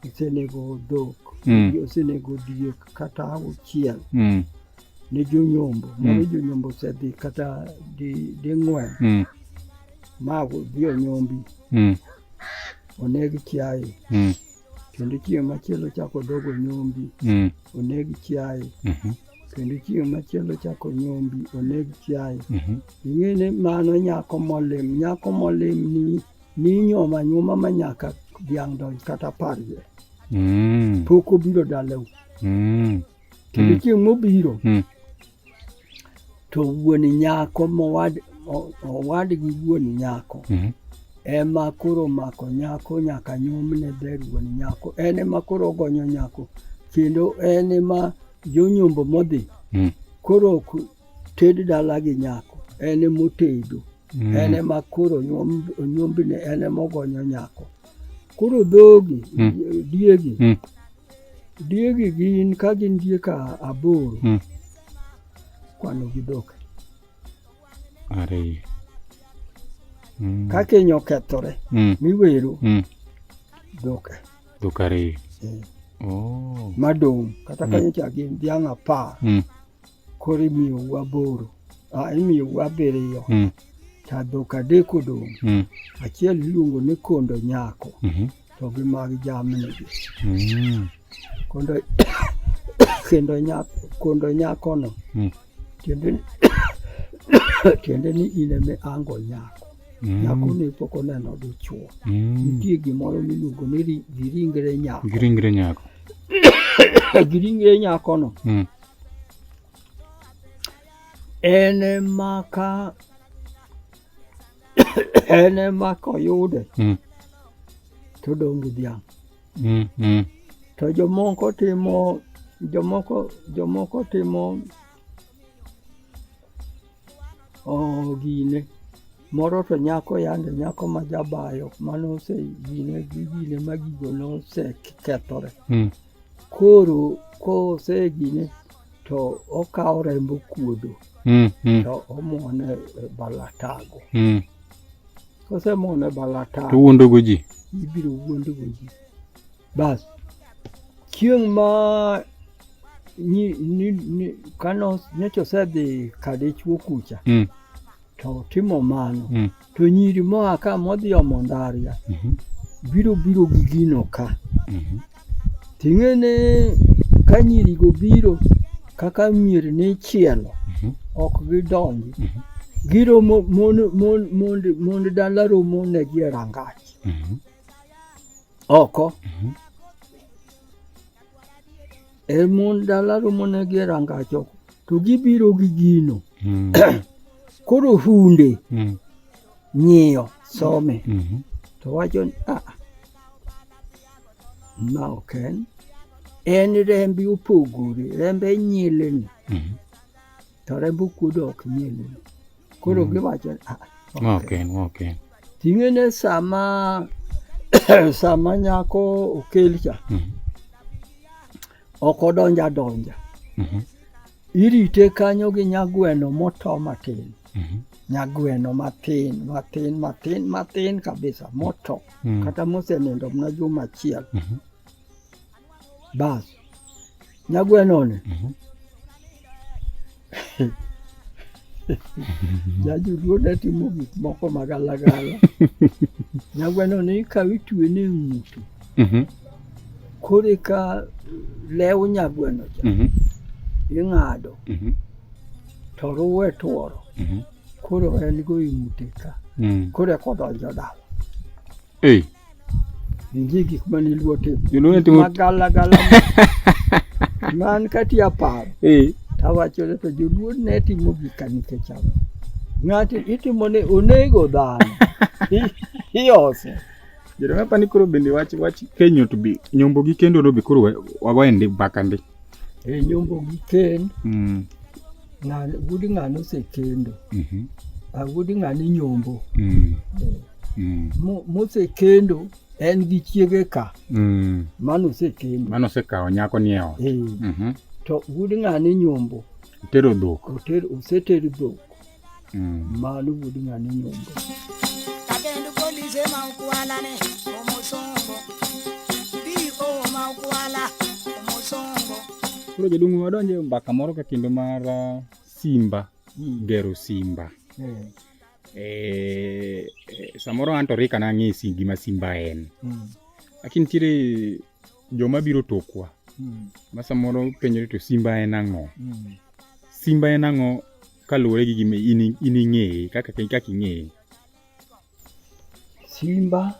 osenego dhok, Mm. osenego diek, kata auchiel mm. ne jonyombo mm. mane jonyombo osedhi kata ding'wen di mm. ma odhi onyombi mm. oneg chiaye mm. kendo chieng' machielo chako dogo nyombi mm. oneg chiaye mm -hmm. kendo chieng' machielo chako nyombi oneg chiaye mm -hmm. ing'e ni mano nyako molim nyako molim ni ninyoma nyuma ma nyaka dhiang' donj kata parje Mm. Mm. Pok obiro dalau. Mm. Kendo mm. chieng' mobiro mm. to wuon nyako mowad owad gi wuon nyako mm. ema koro mako nyako nyaka nyomne ber wuon nyako en ema koro ogonyo nyako kendo en ema jonyombo modhi mm. koro ok ted dala gi nyako en emotedo mm. en ema koro onyombne en ema ogonyo nyako Koro dhogi, mm. diegi, mm. diegi gin ka gin diek aboro, mm. kwano gi dhok. Ariyo. Mm. Ka keny okethore, mm. miwero, mm. dhok. Dhok ariyo. Eh. Oh. Madong, kata mm. kanyo cha gin dhiang' apar. Mm. koro imiyo wu aboro ah, imiyo wu abiriyo mm. to dhok adek odong' mm. achiel iluongo ni kondo nyako mm -hmm. to gi mag jamnigi mm. kondo kendo nyako kondo nyakono mm. tiende tiende ni in eme ango nyako mm. nyako ne pok oneno dichuo mm. nitie gimoro miluongo ni giringre nyako giringre nyako giringre nyakono mm. Ene maka ene maka oyude mm. to odong' gi dhiang' mm, mm. to jomoko timo jomoko jomoko timo oh, gine moro to nyako yande nyako ma jabayo mano ose gine gi gine ma gigo nosekethore mm. koro kosejine to okawo rembo kuodo mm, mm. to omwone e balatago mm. kosemwone balatago to wuondogo ji ibiro wuondogo ji bas chieng' ma kano nyocha osedhi kadichwo kucha mm. to timo mano mm. To nyiri moa ka modhi omo ndaria mhm. biro biro gi gino ka. Mhm. Ting'e ni ka nyirigo biro kaka mier ni chielo mhm. ok gidonji. Giromo mond dala romo negi e rangach oko. e mon dala romone gi e rangachoko to gibiro gi gino mm. koro hunde mm. ng'iyo some mm -hmm. to wacho ni a ah, ma ok en en rembi opogore rembe nyilni mm -hmm. to rembe okuodo ok nyilni koro mm -hmm. giwacho ni a ah, ok en ok en Ting'ene sama sama nyako okel cha mm -hmm. ok odonja donja mm -hmm. irite kanyo gi nyagweno moto matin mm -hmm. nyagweno matin matin matin matin kabisa moto mm -hmm. kata mosenindo mna juma achiel mm -hmm. basi nyagwenone mhm. jajuluo ne timo gik moko magalagala nyagweno ne ikawo itwe ne ng'utu mhm. koro eka lew nyagweno cha mhm. ing'ado mhm. to ruwe tworo koro en go ing'ute ka mm. koro ekodonjo dala Hey. Njigi kuma nilwote. Nilwote timo. Magala gala. Man kati ya paro. Hey. Tawacho le to joluo ne timo gik ka nikech ang'o. Ng'ato itimo ne onego dhano. Iose. Jerome apani koro bende wach wach kenyo to bi nyombo gi kendo no be koro wago endi baka ndi. E nyombo gi ken. Mm. Ng'ani wuod ng'ani osekendo. Mhm. Ah, wuod ng'ani nyombo. Mm. Eh, Mm. mo- Mosekendo en gi chiege ka Mm. mano osekendo. Mano osekawo nyako ni e ot. Eh, Mhm. to wuod ng'ani nyombo Tero dhok. oter oseter dhok. mmaalo bulinya ni nyumba kakendu polise maukuwala ne omusongo dio maukuwala omusongo koro jodongo wadonje mbaka moro ka kendo mar uh, simba mm. gero simba mm. eh, eh, samoro anto rika nang'e si gima simba en mm. lakini nitiere joma biro tokwa hmm. ma samoro penjore to simba en ang'o hmm. simba en ang'o kaluwore gi gima in ing'eye kaka kaka ing'eye simba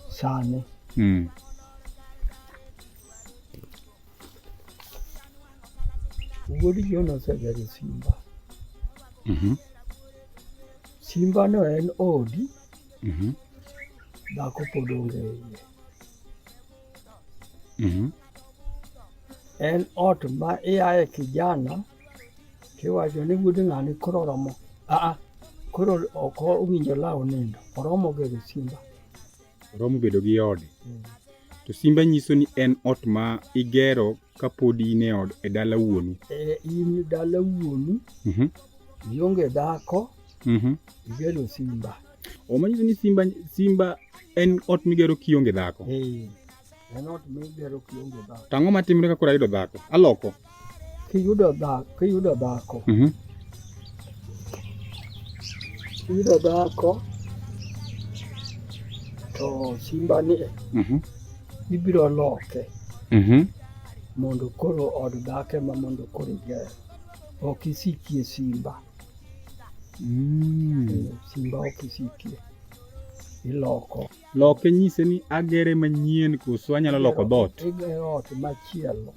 sani hmm. wuod Jona osegero simba mm -hmm. simba no en odi Mhm. Dhako pod onge e iye. Mhm. En ot ma iaye kijana tiwacho ni wuod ng'ani koro oromo. Aa, koro ok owinjo law nindo. Oromo gi gi simba. Oromo bedo gi ode. To simba nyiso ni en ot ma igero ka pod in e od e dala wuonu e in dala wuonu Mhm, ionge dhako mhm. igero simba omanyiso ni simba simba en ot migero kionge dhako Eh, en ot migero kionge dhako to ang'o matimre ka koro ayudo dhako aloko kiyudo dhako kiyudo dhako Mhm, kiyudo dhako to simba ni mhm. Ibiro loke Mhm. mondo koro od dak ema mondo koro iger. Ok isikie simba. Mm. Eh, Simba ok isikie. Iloko. Loke nyise ni agere manyien koso anyalo loko dhoot. Igero ot machielo.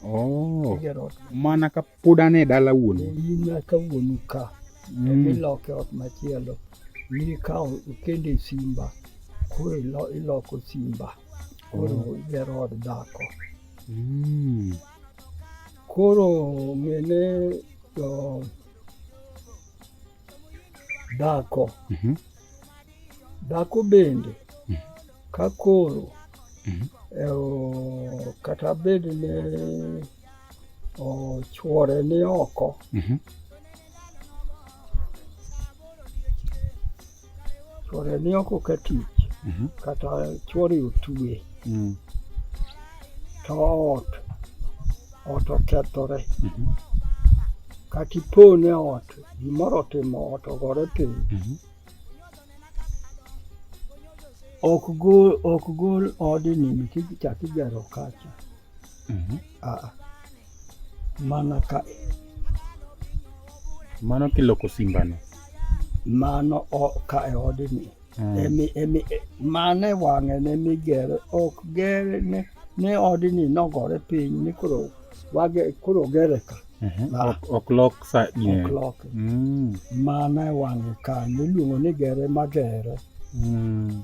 Oh. Igero ot Mana ka Pod an e dala wuonu. In nyaka wuonu ka. Mm. Iloke ot machielo. Mikawo ikende simba. Koro iloko simba. Koro oh. igero od dhako. Mm. Koro mene jo dhako. Mm -hmm. Dhako bende. Mm -hmm. Ka koro. Mm -hmm. kata bed ne Ochuore ni oko. Mm -hmm. Chuore ni oko ka tich. Mm -hmm. Kata chuore otue. Mm. To ot. Ot okethore. Mm -hmm. Kata ipone ot. Gimoro otimo ot ogore piny. Mm -hmm. ok gol ok gol odni nikech chak igero kacha Mhm. Ah, mana ka mano kiloko simbano mano ka e odni mm. emi emi e, mane wang'e ne migere ok gere ne ne odni nogore piny ni koro wage koro gere ka mhm. ah. ok lok sa ok lok mm. mane wang'e ka niluongo ni gere magere mm.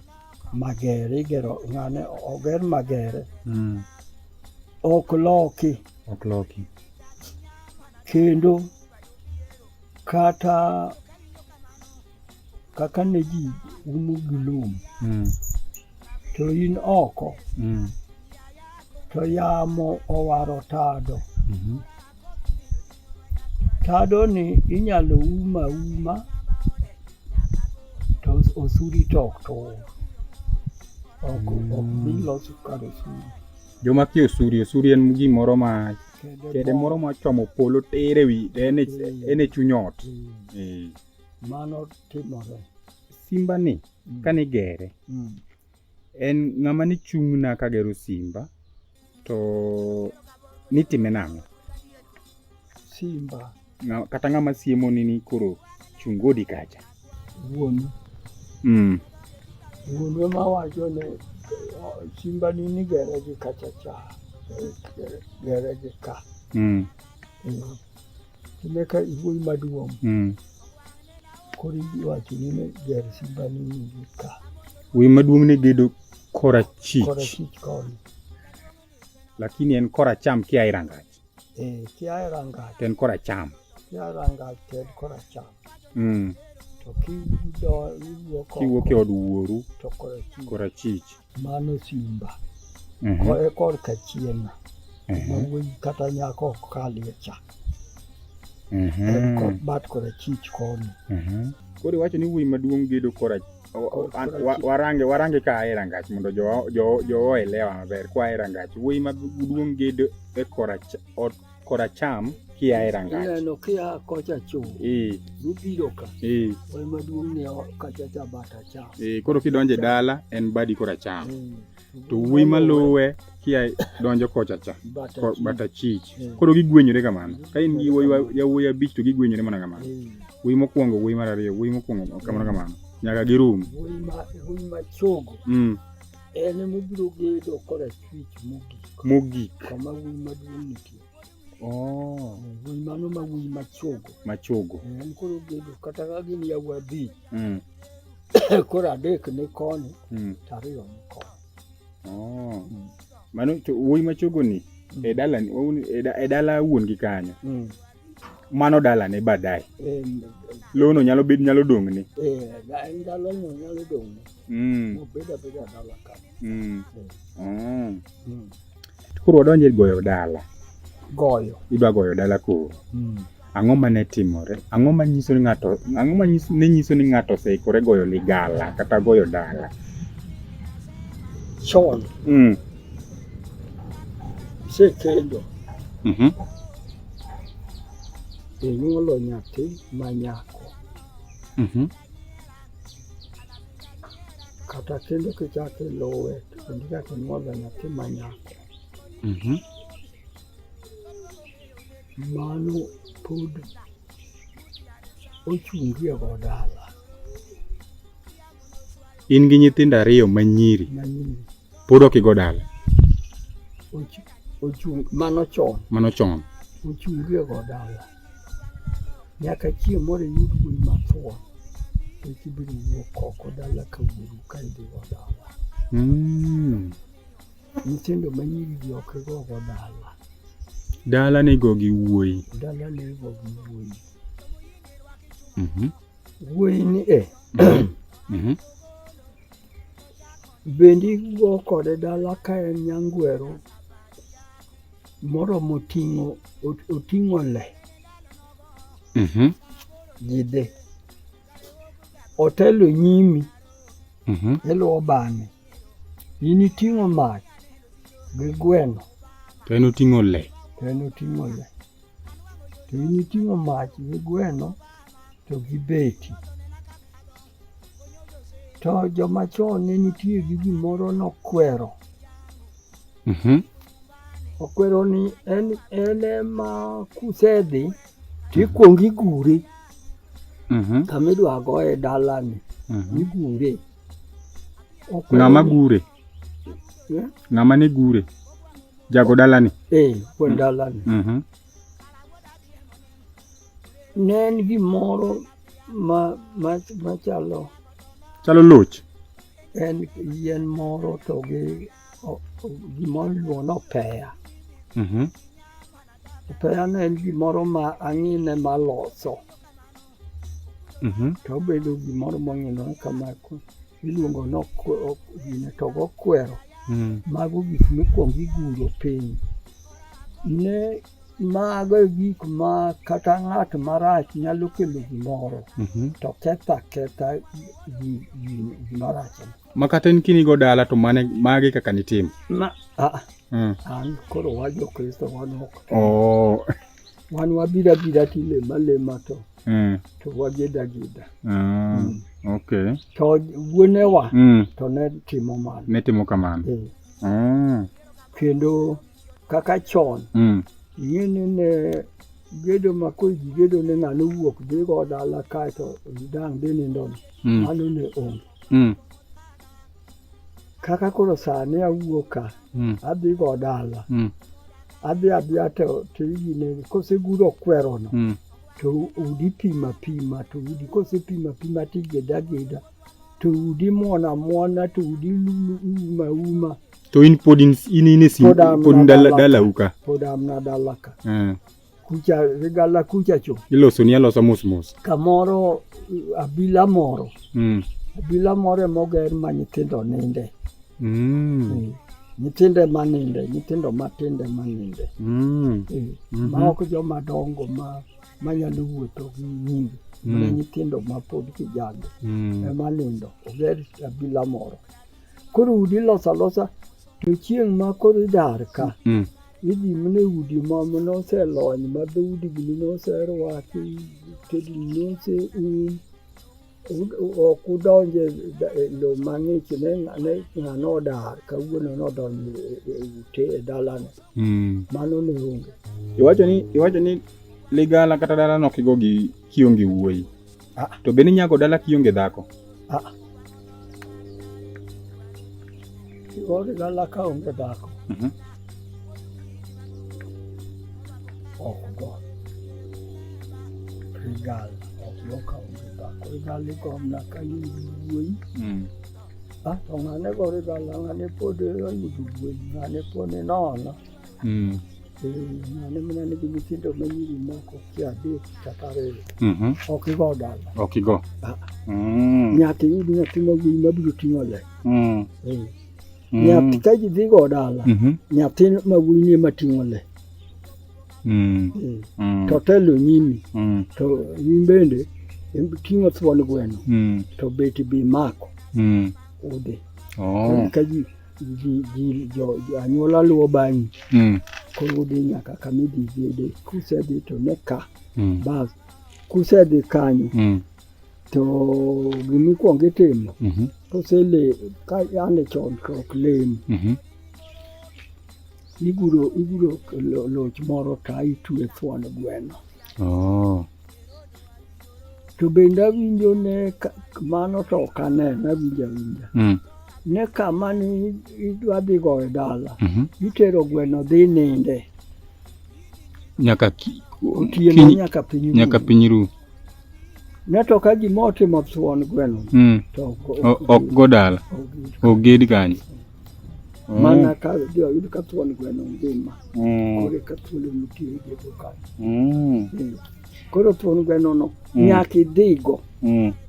Magere igero ng'ane oger magere. Mm. Ok loki. Ok loki. Kendo kata kaka ne ji umo gi lum mm. to in oko mm. to yamo owaro tado mm -hmm. tadoni inyalo um auma to osuri to ok tur. Ok ok dhi loso kar osuri. Joma kia osuri, osuri en gimoro ma kede moro ma chomo polo tir ewi to en e en e chuny ot. Eh. Mano timore. Simba ni kani gere, en ng'ama ni chung' na kagero simba. To nitime nang'o? Simba. Na, kata ng'ama siemo ni ni koro chungodi kacha. Wuonu. Mm. Wuonu ema wacho ne simba ni ni gere gi kacha cha. Gere gi ka. Mm. Mm. Emeka iwuoyi maduong' mm. koro iwacho ni ne ger simba ni nigi ka wuoyi maduong' ne gedo korachich korachich koni lakini en koracham kia e rangach eh kia e rangach en koracham kia e rangach to en koracham mm. to kiwuok e od wuoru to korachich Mano simba mhm. koe korka chien mhm. mawuoyi kata nyako ok kalie cha mhm. en kod bat kora chich koni koro iwacho ni wuoyi maduong' gedo kora warange warange ka ae rangach mondo jowa elewa maber kwa ae rangach wuoyi maduong' gedo e kora ot koracham kia e rangach. Ineno kia kocha chung'. Ee. Ibiro ka. Ee. Wal maduong' ni kacha cha bata cha. Ee, koro kidonje dala en badi koracham. To wuoyi maluwe kia donjo kocha cha. Bata chich. Koro gigwenyore kamano. Ka in gi wuoyi yawuoyi abich to gigwenyore mana kamano. Wuoyi mokwongo, wuoyi mar ariyo, wuoyi mokwongo kamano kamano. Nyaka girum. Wuoyi ma chogo. Mm. En ema obiro gedo korachwich mogik. Mogik. Kama wuoyi maduong' nitie. Oh. Wuoyi mano ma wuoyi machogo. Machogo. Eh, en koro gedo kata ka gin yawuoyi abich. Mm. koro adek ni koni mm. to ariyo ni koni. Oh. Mm. Mano to wuoyi machogo ni e dala e dala wuon gi kanyo. Mm. mano dalane baadaye. Eh, Lono nyalo bed nyalo dong'ne. Eh, ndalono nyalo dong'ne. Mm. Obeda beda dala ka. Mm. Eh. Mm. Mm. Koro wadonje goyo dala. Goyo. Idwa goyo dala koro. Mm. Ang'o ma ne timore? Ang'o ma nyiso ni ng'ato ang'o ma nyiso ne nyiso ni ng'ato oseikore goyo ligala kata goyo dala? Chon. Mm. Sekendo. Mhm. Mm inyuolo nyathi ma nyako mhm. kata kendo kichako iluwe to kendo ichako inyuolo nyathi ma nyako mhm. mano pod ochungie go dala in gi nyithindo ariyo manyiri manyiri Pod ok igo dala. Ochung' mano chon. Mano chon. Ochung' gi go dala. Nyaka chieng' moro iyud wuoyi mathuon. Eki ibiro wuok oko dala ka wuoru ka idhi go dala. Mm. Nyithindo ma nyiri gi ok igo go dala. Dala ni go gi wuoyi. Dala ni go gi wuoyi. Mhm. Mm wuoyi ni eh. Mm -hmm. Bendi go kode dala ka en nyangwero moromo ting'o oting'o le mhm. jidhe otelo nyimi mhm. iluwo bang'e in iting'o mach gi gweno to en oting'o le to en oting'o le to in iting'o mach gi gweno to gi beti To joma chon ne nitie gi gimoro nokwero. Mhm. Okwero ni en en ema kusedhi tikwong igure Mhm. kama idwa goye dalani Mhm. igure. Okwero Ng'ama ni- gure? Eh? Ng'ama ne gure? Jago dalani? Eh, wuon dalani. Mhm. Ne en gimoro ma, ma, ma chalo chalo loch en yien moro to gi o- o- gimoro iluongo ni opeya. Mhm. Opeya ne en gimoro ma ang'ine maloso. Mhm. to obedo gimoro mong'inore kamako iluongo ni okwe- ok- gine to gokwero Mm. mago gik mikwongo iguro piny ne mago e gik ma kata ng'at marach nyalo kelo gimoro Mhm. to ketha ketha gi- gi- gimarachno Ma kata in kinigo dala to mane magi kaka nitimo. ma ah, Mm. an koro wa jokristo wan ok Oh. Wan wabira bira tilema lema to Mm. to wageda geda. Ah, Mm. okay. To wuonewa Mm. to ne timo mano. Ne timo kamano. Eh, Ah. Kendo kaka chon Mm. ing'e ni ne gedo ma koro ji gedo ne ng'ano wuok dhigo dala kaeto dang' dhi nindo ni Mm. mano ne onge. mm. kaka koro sani awuoka mm. adhi go dala mm. adhi adhiya to tigine koseguro kwerono mm. to udi pima pima to udi kosepima pima tigeda geda to udi muona muona to udi uma uma to in pod in in in pod in dala dala uka pod amna dala ka eh. kucha gala kucha cho iloso ni alosa mos mos kamoro abila moro mm. abila moro emoger ma nyithindo ninde mm. e. nyithindo ema ninde nyithindo matindo ema ninde mm. e. mm -hmm. ma ok joma dongo ma manyalo wuotho gi nyingi mm. mana nyithindo ma pod kijande mm. ema nindo oger abila moro koro udi losa losa to chieng' ma koro idar ka mm. Idhi mine udi ma noselony ma dhoudigi noserwaki, tedi nose um ok udonj e lo mang'ich ne ng'ano odar kawuono nodonjo e ute e dalane hmm. mano ne onge iwacho ni iwacho ni ligala kata dalano kigo gi kionge wuoyi Ah. To be ninyago dala kionge dhako? Ah. Kionge dala ka onge dhako. Mhm. Ok go. Rigal ok yo ka onge dhako. Rigal iko mna ka in wuoyi. Mm. Ah, to ng'ane go rigal ng'ane pod oyudo wuoyi ng'ane pod inono. mm. Eh, nane mana nigi nyithindo ma nyiri moko kia adek kata ariyo mhm. ok igo dala ok igo ah. mm. nyaka iyud nyathi mawuoyi mabiro ting'o le mm. eh. mm. nyathi ka ji dhigo dala mhm. nyathi mawuoyi nie mating'o le eh. to telo nyimi to in bende ting'o thuon gweno to beti bi mako udhi oh. ka ji ji, ji, jo, jo, anyuola luwo bang'i mm. koro udhi nyaka kama idhi bede kusedhi to ne ka mm. bas kusedhi kanyo mm. to gimikwongo itimo mm -hmm. kosele ka yande chon to ok lem mm -hmm. iguro iguro loch moro ka itwe thuon gweno Oh. To bende awinjo ne mano to ok aneno awinjo awinja. Mm. Ne kama ni idwa dhi goyo dala. Mm -hmm. Itero gweno dhi ninde. Nyaka ki, otieno ki, nyaka piny ru. Nyaka piny ru. Ne to ka gima otimo thuon gweno. Mm. To ok go dala. Oged kanyo. Mm. mana kathio yudu katwoni gweno ngima mm. kore katwoni mutire geduka mm. koro twoni gweno no nyaki dhigo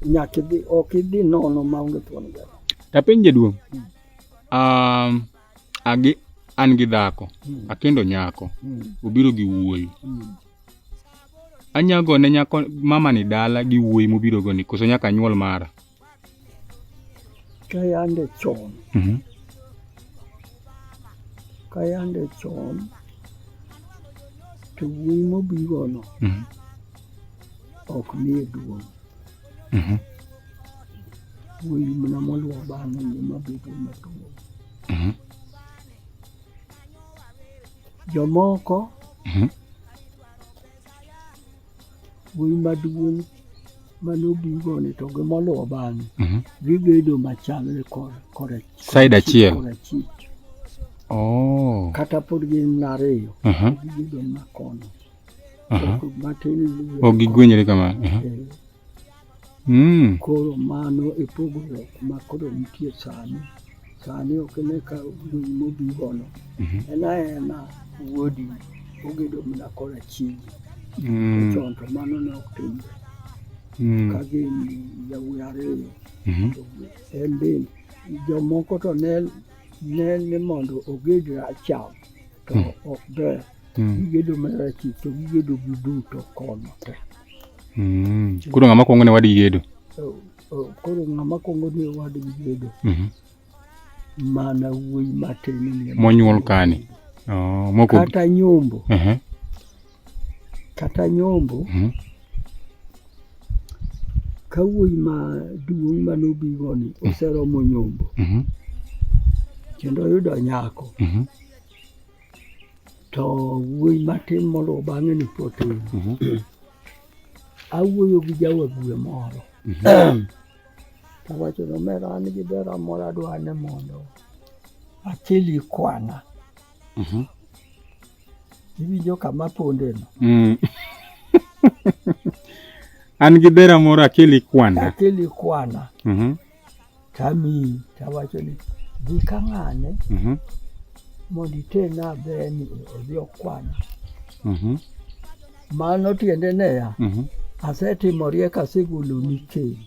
nyaki dhi ok idhi nono maonge twoni gweno tapiny jaduong' um, agi an gi dhako akendo nyako obiro gi wuoyi anyago ne nyako mama ni dala gi wuoyi mobiro go ni koso nyaka anyuol mara Kayande chon. Mhm. Kayande chon. To wuoyi mobigono Mhm. ok nie duong'. Mhm. Wuoyi mana moluwo bang'e ema bedo maduong'. Mhm. Jomoko Mhm. wuoyi maduong' mane obigoni to gi moluwo bang'e mhm. gigedo machalre side achiel oh. kata pod gin ariyo mhm. gigedo makono mhm. matin ogigwenyre kamano eh. Mm. Koro mano e pogruok ma koro nitie sani. Sani ok ne ka wuoyi mobigono. Mm -hmm. En aena wuodi ogedo mana kora chiegi. Mm. Chon to mano ne ok timre. Mm. Ka gin yawuoyi ariyo. Mm -hmm. To en bende jomoko to ne ne ni mondo oged racham to mm. ok ber. Mm. Mm. Gigedo mana chik to gigedo gi duto kono te. Mm. Koro ng'ama kwongo ne wadgi gedo? Koro ng'ama kwongo ne wadgi gedo. Mm-hmm. Mana wuoyi matin ni. Monyuol kani. Oh, moko. Kata nyombo. Uh-huh. Kata nyombo. Mm-hmm. Ka wuoyi ma duong' ma nobigo ni mm-hmm. oseromo nyombo. Kendo oyudo nyako. to wuoyi matin moluwo bang'e ni potin mhm. awuoyo gi jawagwe moro mhm. tawacho ni omera an gi ber amoro adwa ni mondo achili kwana mhm. iwinjo kama pondeno mm. an gi ber amoro akeli kwana akeli kwana tamiyi tawacho ni dhi ka ng'ane mhm. mondo itena beni odhi okwana mhm. mano tiende neya mhm. asetimo riek asegoloni keny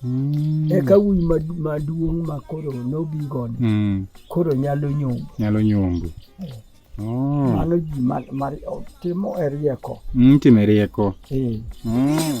Mm. Eka wuoyi maduong' ma koro nobigoni mm. koro nyalo nyombo. Nyalo nyombo. Eh. Oh. Mano ji mar, mar timo e rieko. Mm, timo e rieko. Eh. Mm.